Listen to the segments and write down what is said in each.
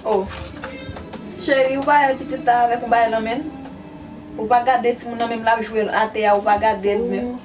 Oh Cheri ou pa wè pitit la avèk yon bagay nan menl? Ou pa gadel timoun nan menm lap jwel atè a ou pa gadel menm.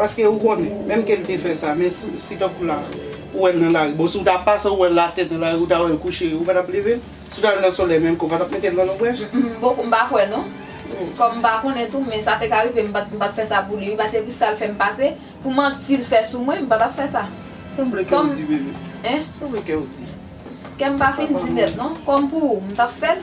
Paske ou konnen, menm ke l te fè sa, men si, si tankou la, ou wè l nan lari, bon si w ta pase ou wè l atè nan lari, ou ta wè l kouche, ou pa t ap leve l? Si w ta al nan solèy menm ke w pa t ap mete l nan lonbraj? M, m poko, m pa kwè non. Kòm m pa konnen tou, men sa te ka rive m pa t, m pa t fè sa pou li wi, paske pou sa l fè m pase, pou manti l fè sou mwen, m pa t ap fè sa. Sanble kè w di bebe. Hein? Sanble kè w di. Kè m pa fin di nèt non. Kòm pou ou, m t ap fè l.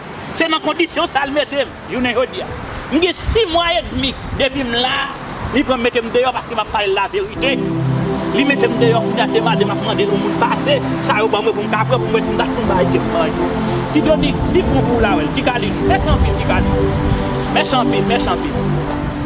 Se nan kondisyon sa l mete m jounen jodi a. M gen si mwa edmi depi m la, li pran m mete m deyò paske m ap pale l laverite. Li mete m deyò kounya se mande m ap mande l yon moun pase sa yo ban mwen pou m ka pran pou m wè si m ka jwenn bagay ke m manje. Ti Donik, siw pran pou w la wè l. Ti Kalin, mèsi anpil Ti Kalin. Mèsi anpil, mèsi anpil.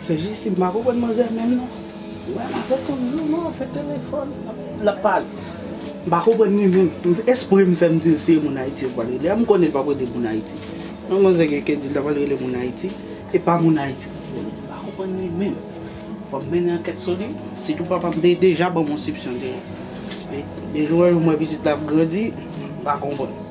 Se jissi m pa konprann manzè menm non. Wè manzè tout jou non ap jwe telefòn lap pale. M pa konprann li menm. Espre m fè m di l si e moun Ayiti yo pral rele a. M konnen l pap rele moun Ayiti. Yon manzè gen kè di l ta pral rele moun Ayiti e pa moun Ayiti li rele. M pa konprann li menm. Fò m mennen ankèt sou li. Sitou papa m te deja ban m yon sipsyon de li. Men de jou an jou m wè pitit la ap grandi, m pa konprann.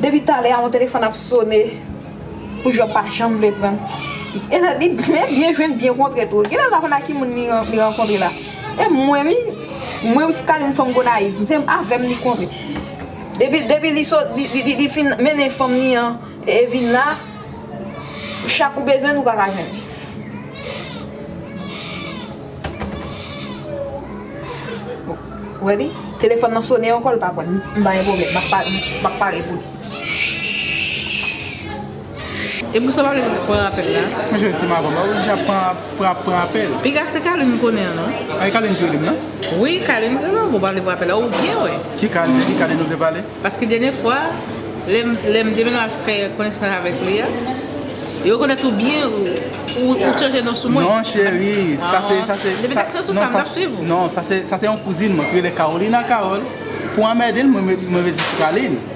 Depi talè a yon telefòn ap sone pou Jòb pa janm vle pran l. Li byen jwenn byen kontre tou. Genlè l pa konn ak ki moun li rankontre la. E mwen wi, mwen Skyline fanm Gonayiv, se avè m li kontre. Depi depi li sot li fin mennen fanm li an e vin la chak ou bezwen l ou pa ka jwenn li. Ou wè li? Telefòn nan sone ankò l pa pran. M pa gen pwoblèm. M ap pare pou li. E pou sa pa vle pran apel la. Mwen jwenn sim avanm la ou di ap pran apel. Piga se Carline m konnen an non. A e Carline ki relem nan. Wi Carline ki relem ou pa vle pran apel la ou byen wè. Ki Carline de ki Carline ou vle pale. Paske dènye fwa lèm te vin ap fè konesans avèk li a e rekonèt ou byen ou chanje non sou mwen. Non cheri sa se sa se. Depi sak se sou sa m tap swiv ou. Non sa se yon kouzin mwen ki rele Carolina Carol pou anmède l mwen rele li Carline.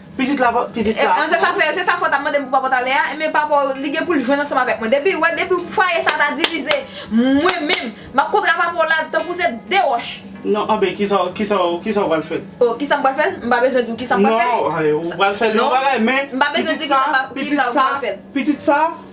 Pitit la pa pitit sa. Se sa fè se sa fè w ta mande m pou papa w ta ale a, enben papa w li gen pou l jwenn ansanm avèk mwen. Depi wè depi fwaye sa ta divize mwen menm m ap kontra papa w la tankou se 2 wòch. Non anben kisa w kisa w kisa w pral fè? O kisa m pral fè l? M pa bezwen di w kisa m pral fè l. Non ou pral fè l yon bagay men pitit sa pitit sa pitit sa.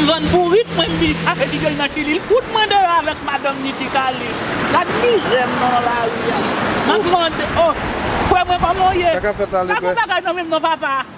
M vann bourik mwen pi ak epi ke l nan kilil kout mwen deyò avèk madanm ni ti kale gad mizè m nan lari a map mande oh frè mwen kòman w ye pa gen bagay nan menm non papa.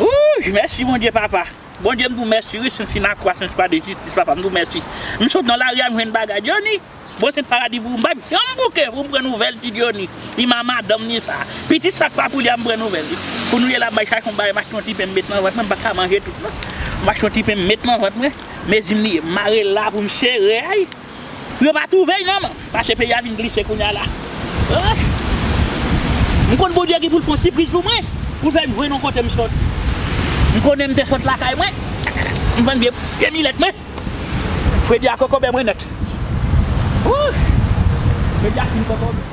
Wouuyy mèsi bondye papa. Bondye m di w mèsi wi si m fin ak kwa sen swa de jistis papa m di w mèsi m sot nan lari a m jwenn bagay Dyoni bon se t paradi pou ou m pat janm bouke pou m pran nouvèl ti Dyoni ni ma madanm ni sa pitit sa k pa pou li a m pran nouvèl li kounye la m bay chak yon bagay m achte yon ti pen m met nan vant mwen m pa ka manje tout non m achte yon ti pen m met nan vant mwen mezi m li ye m mare l la pou m sere a. Yo pa trouve y non Mache peyi a vin glise kounya la Ohh M konn Bondye ki pou l fon sipriz pou mwen Pou l fè m jwenn yon kote m sot M konnen m te sot lakay mwen M vann vye vye milèt mwen Fredi a kokobe mwen nèt Ohh Fredi a fin kokobe.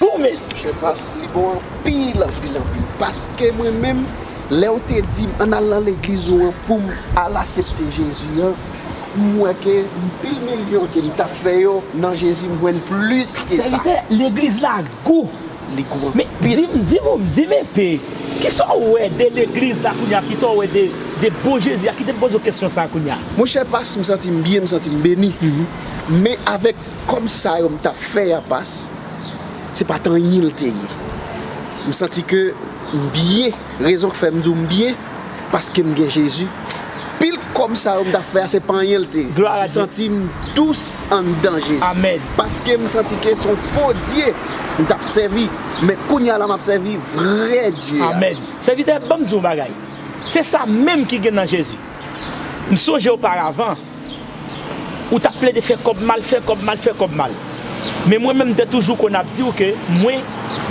Bon men chè pas li bon anpil anpil anpil paske mwen menm lèw te dim ann al nan legliz ou an poum al asepte Jezi an m wè ke pil milyon kem tap fè yo nan Jezi m jwenn plis ke sa. Sèvitè, legliz la gou. Li gou anpil. Men, di m, di m enpe, kisa w wè de legliz la kounye a, kisa w wè de bon Jezi a, kite m poze w kesyon sa a kounye a. Monchè pas, m santi m byen, m santi m beni, men avèk Kòb sa yo m t ap fè a pas, se pa t anyen l te ye. M santi ke m byen. Rezon k fè m di w m byen, paske m gen Jezi. Pil kòb sa yo m t ap fè a, se pa anyen l te ye. M santi m dous anndan Jezi. Paske m santi ke se yon fo dye m t ap sèvi. Men kounye a la, m ap sèvi vrè Dye a. Amèn. Sèvitè, ban m di w yon bagay. Se sa menm ki gen nan Jezi. M sonje oparavan. Ou tap plede fè kòb mal, fè kòb mal, fè kòb mal. Men mwen menm m te toujou konn ap diw ke mwen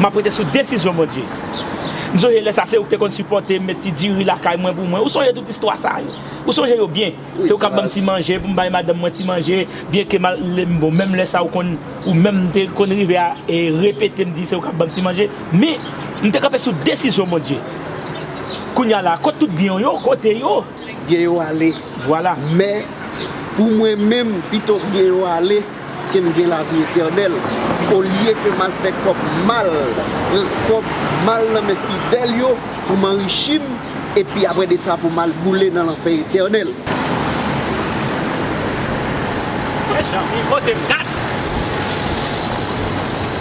map rete sou desizyon Bondye. M sonje lè sa se ou ki te konn sipòtem, met ti diri lakay mwen pou mwen. Ou sonje tout istwa sa yo? Ou sonje yo byen? Se ou kap banm ti manje pou m bay madanm mwen ti manje, byen ke mal lèm bon menm lè sa ou konn ou menm te konn rive a repetem di se ou kap banm ti manje. Men m te kanpe sou desizyon Bondye. Kounya la kot tout byen w yo? Kote yo? byen yo ale. Men, pou mwen menm, pito byen yo ale ke m gen lavi etènèl, olye ke m al fè kòb mal, pran kòb mal nan men fidèl yo pou m anrichi m, epi apre de sa pou m al boule nan lanfè etènèl. Frè Janvi, kote m, gad!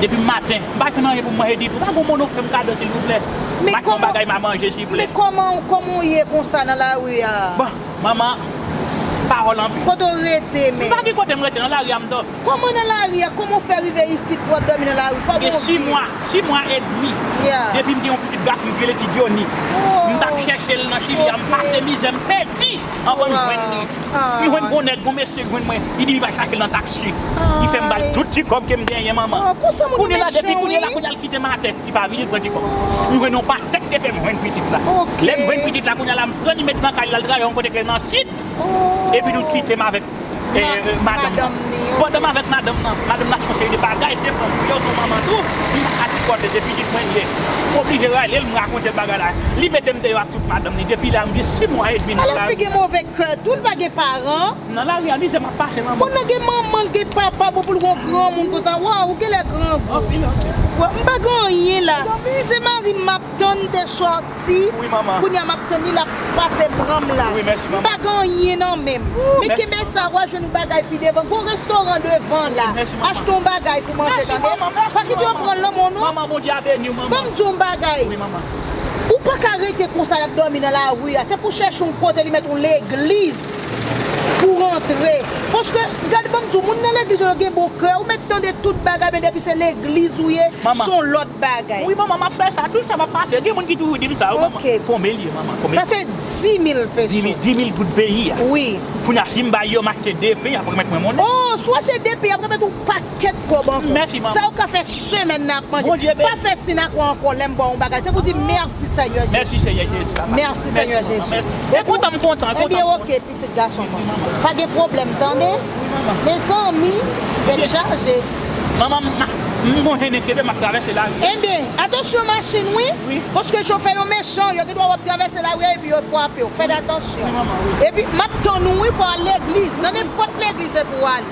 Depi m maten m pa jwenn anyen pou m manje ditou pa gon moun ou fè m kado silvouplè Ba m yon bagay ma manje souple. Men koman w ye konsa nan lari a? Bon manman pawòl anpil. Kote w rete men? M pa gen kote m rete nan lari a m dòmi. Koman nan lari a? Koman w fè rive isit pou w ap dòmi nan lari? Koman w viv? Gen 6 mwa, 6 mwa edmi depi m gen yon pitit gason ki rele ti Dyoni. M t ap chèche l nan chili a m pase mizè m pèdi. Anvan m jwenn li, m jwenn gon nèg, gon mesye jwenn mwen, li di li pral krakel nan taksi. Li fè m ba l tout ti kòb ke m genyen manman. Kounye la depi kounye la kounye l kite m atè, li pa vini pran ti kòb. M jwenn yon pastè ki te fè m jwenn pitit la. Lè m jwenn pitit la kounye la m pran li met nan kay li l al travay yon kote ki nan sid. Epitou l kite m avèk madanm ni yo. Pandan m avèk madanm nan, madanm nan ap fè yon seri de bagay ki depann pou yo, son manman tou, li pa ka sipòte se pitit mwen li ye. M oblije rele l, m rakonte l bagay la. Li mete m deyò ak tout madanm li. Depi lè a m gen 6 mwa edmi nan lari. Alòs li gen move kè tou, li pa gen paran. Nan lari a mizè m ap pase lanmò. Bon nan gen manman, li gen papa, bon pou l gen yon granmoun konsa, waww ou genlè grangou. Anpil anpil. M pa gen anyen la, se mari m m ap. Ton te soti kounya map tann li lap pase pranm la m pa gen anyen nan menm men kenbe sa wa jwenn yon bagay pi devan gon restoran devan la achte yon bagay pou manje tande pa kite yo pran lanm ou non banm diw yon bagay ou paka rete konsa nap domi nan lari a se pou chèche yon kote li met yon legliz. Pou rantre. Paske gad banm diw moun nan legliz yo yo gen bon kè ou met tande tout bagay men depi se legliz ou ye son lot bagay. Wi manman map fè sa tout sa map pase gen moun ki toujou dim sa wi manman konbe liye manman konbe sa se dimil peso dimil goud peyi a wi kounya sim bay yo mache depi yap remet mwen monnen oh sou achte depi yap remet ou pa. Ket kob anko. Sa ou ka fe semen nan ap manje. Pa fe sinakwa anko lem baw yon bagay se pou di merci seigneur Jesus. Merci seigneur Jesus. Ebyen ok pitit gason mwen. Pa gen pwoblem tande. Mezanmi tet chaje. Ebyen atansyon machin wi. Paske chofè yo mechan yo gen dwa we wap travese la ri a epi yo fwapew. Fed atansyon. Epi map tann ou wi fo al legliz. Nan nenpot legliz epi wale.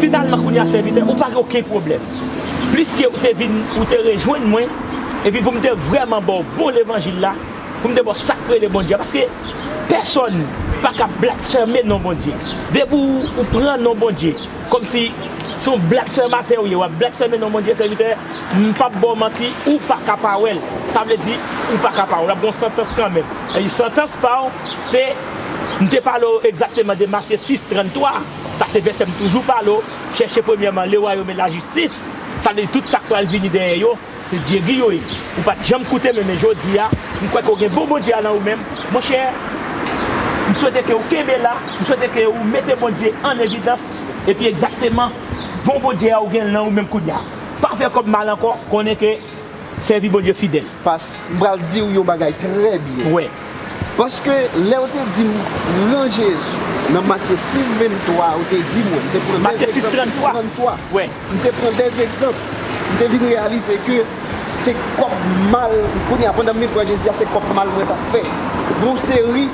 Finalman kounye a sèvitè, ou pa gen okenn pwoblèm. Pliske ou te vin, ou te rejwenn mwen, epi pou m te vrèman ba w bon levanjil la, pou m te ba w sa k rele Bondye a, paske pèsòn pa ka blasfème non Bondye. Depi ou pran non Bondye. Komsi se yon blak sè maten ou ye wap blak sè men non bondye sèvitè m pap baw manti ou paka pa wèl sa vle di ou paka pa wèl ap gon santans kanmenm epi santans paw se m te pale w egzakteman de matye 6 33 sa se vèsè m toujou pale w chèche premyèman le wayom e lajistis sa vle di tout sak pral vini dèyè yo Se Jerry yo ye. Ou pa t janm koute men men jodi a, m kwè ke w gen bon Bondye a nan ou menm. Monchè, m swete ke ou kenbe la, m swete ke ou mete Bondye an evidans, epi egzakteman bon Bondye a ou gen l nan ou menm kounye a. Pa fè kòb mal ankò, konnen ke sèvi Bondye fidèl. Past, m pral di w yon bagay trè byen. Wè. Paske lèw te dim pran Jezi nan Matye 6 23 ou te di mwen, mte pran 2 egzanp nan Matye 6 33, mte pran 2 egzanp, mte vin reyalize ke se kòb mal, kounye a pandan m vin pran Jezi a se kòb mal mwen tap fè pou yon seri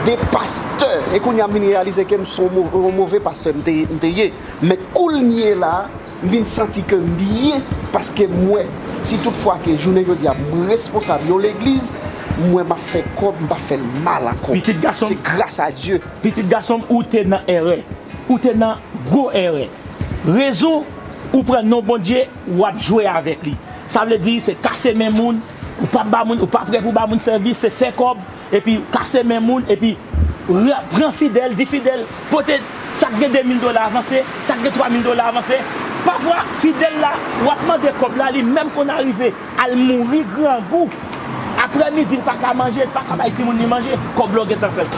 de pastè, e kounye a m vin reyalize kem son move pastè mte ye, men koulnyela. M vin santi ke m byen paske m wè si tout fwa ke jounen jodi a m responsab yon legliz, m wè m ap fè kòb, m pa fè l mal ankò. Se gras a Dye. Pitit gason m, ou te nan èrè. Ou te nan gwo èrè. Rezon ou pran non Bondye, w ap jwe avèk li. Sa vle di se kase men moun, ou pa ba moun, ou pa prè pou ba moun sèvis, se fè kòb. Epi kase men moun epi pran fidèl di fidèl pote sak gen 2000 dola avanse sak gen 3000 dola avanse pafwa fidèl la wap mande kòb la li menm konn arive al mouri grangou aprè midi li paka manje li paka bay timoun li manje kòb la ou gentan pèdi.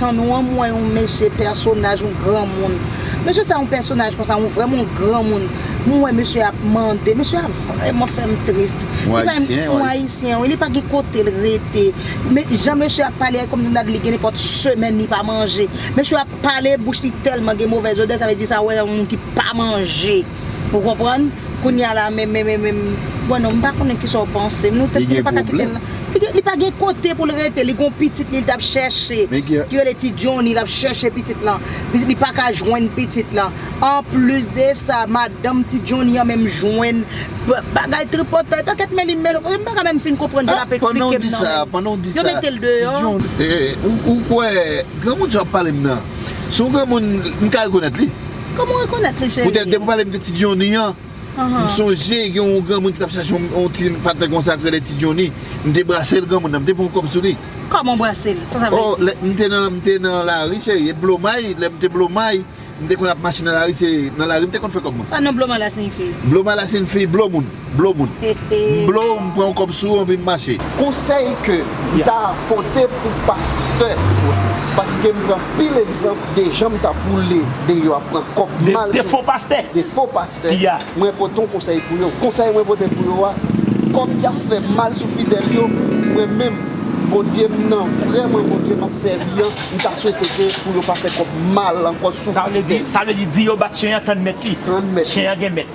Tan nou an m wè yon mesye pèsonaj yon granmoun mesye sa yon pèsonaj konsa yon vrèman yon granmoun m wè mesye ap mande mesye a vrèman fè m trist yon ayisyen wi li pa gen kote l rete jan mesye ap pale a kòmsi ta di li gen nenpòt semèn li pa manje mesye ap pale bouch li tèlman gen movèz odè sa vle di sa wè yon moun ki pa manje. Ou konprann? Kounye a la menm menm menm Bon non m pa konnen kisa w panse m nou tèt nou pa ka kite l nan Li pa gen kote pou l rete li gen yon pitit li l t ap chèche ki rele ti Johnny l ap chèche pitit lan li pa ka jwenn pitit lan Anplis de sa madanm ti Johnny an menm jwenn bagay tripotay pakèt mèli mèlo paske m pa ka menm fin konprann jan l ap esplike m nan menm Yo mete l deyò Ou kwè granmoun sa w ap pale m nan se yon granmoun m ka rekonèt li? Koman w rekonèt li cheri? Poutèt depi w pale m de ti Johnny an, m sonje gen yon granmoun ki t ap chache yon ti patnè konsa k rele ti Johnny. M te brase l granmoun nan, m te pran yon kòb sou li. Kòman w brase l? Sa sa vle di? M te nan, m te nan lari cheri e blomay, lè m te blomay, m te konn ap mache nan lari se nan lari m te konn fè kòb mwen. Sa non blomay la siyifi? Blomay la siyifi blo moun. Blow moun. M blow, m pran yon kòb sou ou anpi m mache. Konsèy ke m ta pote pou pastè, paske m pran pil egzanp de jan m ta boule deyò ap pran kòb mal sou. De fo pastè. De fo pastè. Ki a. Mwen pote yon konsèy pou yo. Konsèy mwen pote pou yo a, kòm y ap fè mal sou fidèl yo, mwen menm, Bondye m nan, vrèman Bondye m ap sèvi an, m ta swete ke pou yo pa fè kòb mal ankò sou fidèl. Sa vle di, sa vle di, di yo bat chen an tann mèt li. Tann mèt li. Chen an gen mèt.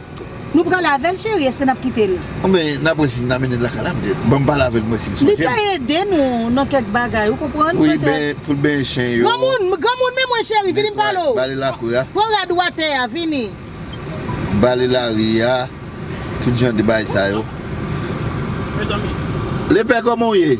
Nou pral avèl cheri eske nap kitel. Ou men nap wè si nap mennenl lakay la pètèt. Banm pale avèl mwen sil sonjem. Li ka ede nou nan kèk bagay ou konprann pètèt. Wi ben poul benyen chen yo. Granmoun men mwen cheri vini m pale w. Bale lakou a. Pran rad ou atè a vini. Bale lari a tout jan de bagay sa yo. Mezanmi. Lepè kòman w ye?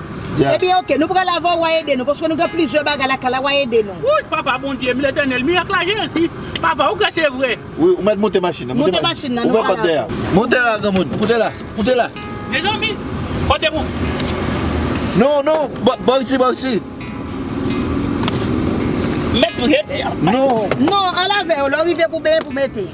Ebyen ok nou pral avèw wa ede nou paske nou gen plizyè bagay lakay la wa ede nou. Wouyy papa Bondye m letènèl mirak la jezi papa ou kwè se vre. Wi ou mèt moute machin nan moute machin nan ouvè pòt dèyè. Moute la granmoun moute la moute la. Mezanmi kote pou m. Non non bò isi bò isi. Mèt tou jete a. Non. Non al avèw lè w rive pou benyen pou mete.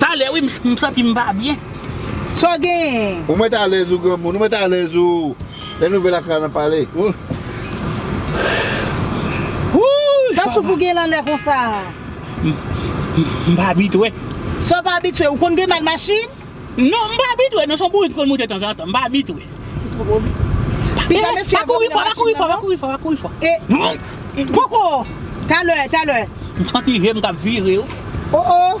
Talè wi m santi m pa byen. Saw genyen? Ou mèt alèz ou granmoun, ou mèt alèz ou lè nouvèl ak Rana pale. Wouuyy. Sa souf ou genyen lan lè konsa a? M pa abitwe. Saw pa abitwe? Ou konn gen mal machin? Non m pa abitwe non son bourik m konn moute tanzantan m pa abitwe. Piga mesye a vòmì nan machin nan non. E poko talè talè. M santi je m kap vire yo. Oh oh.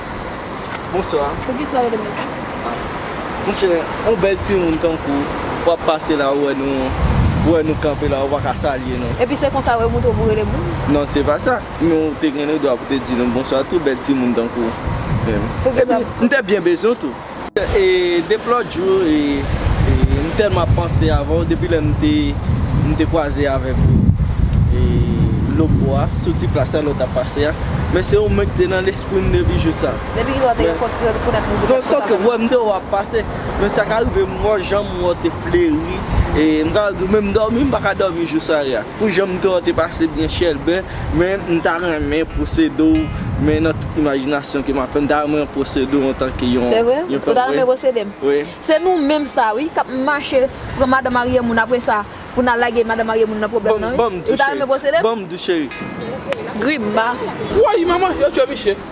Bonsoir. Poukisa ou rele mesye? Monchè, yon bèl timoun tankou ou, wap pase la ou wè nou, ou wè nou kanpe la ou pa ka salye nou. Epi se konsa ou e moutre pou rele moun? Non se pa sa, men ou te gen le dwa pou te di nou bonswa tou, bèl timoun tankou ou. Epi m te byen bezwen w tou. Dep lòt jou m tèlman ap panse avè w depi lè m te kwaze avèk ou Lobo a sou ti plas la lè w t ap pase a men se ou menm ki te nan lespri m depi jou sa. Depi kilè w te gen kont krèy pou nèg m te panse sa. Non m te wè w ap pase men sa ka rive m wè w jan m wè w te fleri m ka di w menm dòmi m pa ka dòmi jou sware a. Pou janm te an te pase byen chèlbè men m ta renmen pwosede w men nan tout imajinasyon ke m ap fè m ta renmen w pwosede w antanke yon Se vre? Ou ta renmen pwosede m? Wi. Se nou menm sa wi kap mache pran madan marye moun apre sa pou n al lage madan marye moun nan pwoblèm nan wi. Ou ta renmen pwosede m? Banm tou cheri. Grimas. Woy manman yo tchwe misye.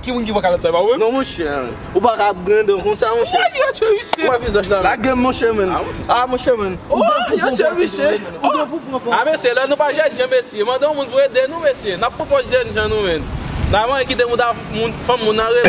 Ki moun ki pran kalòt sa e pa ou menm? Non monchè, ou pa ka ap grandon konsa monchè. Woy yon chèviche! Ou pa vizaj la menm? Lagem monchè menn. Ah monchè menn. Woy yon chèviche! Ou gen pou pran pòz. Ah mesye lè nou pa jènjan mesye, mande yon moun pou ede nou mesye. Nap pran pòz jènjan nou menn. Nan manyen kite mouda fanm moun nan repo.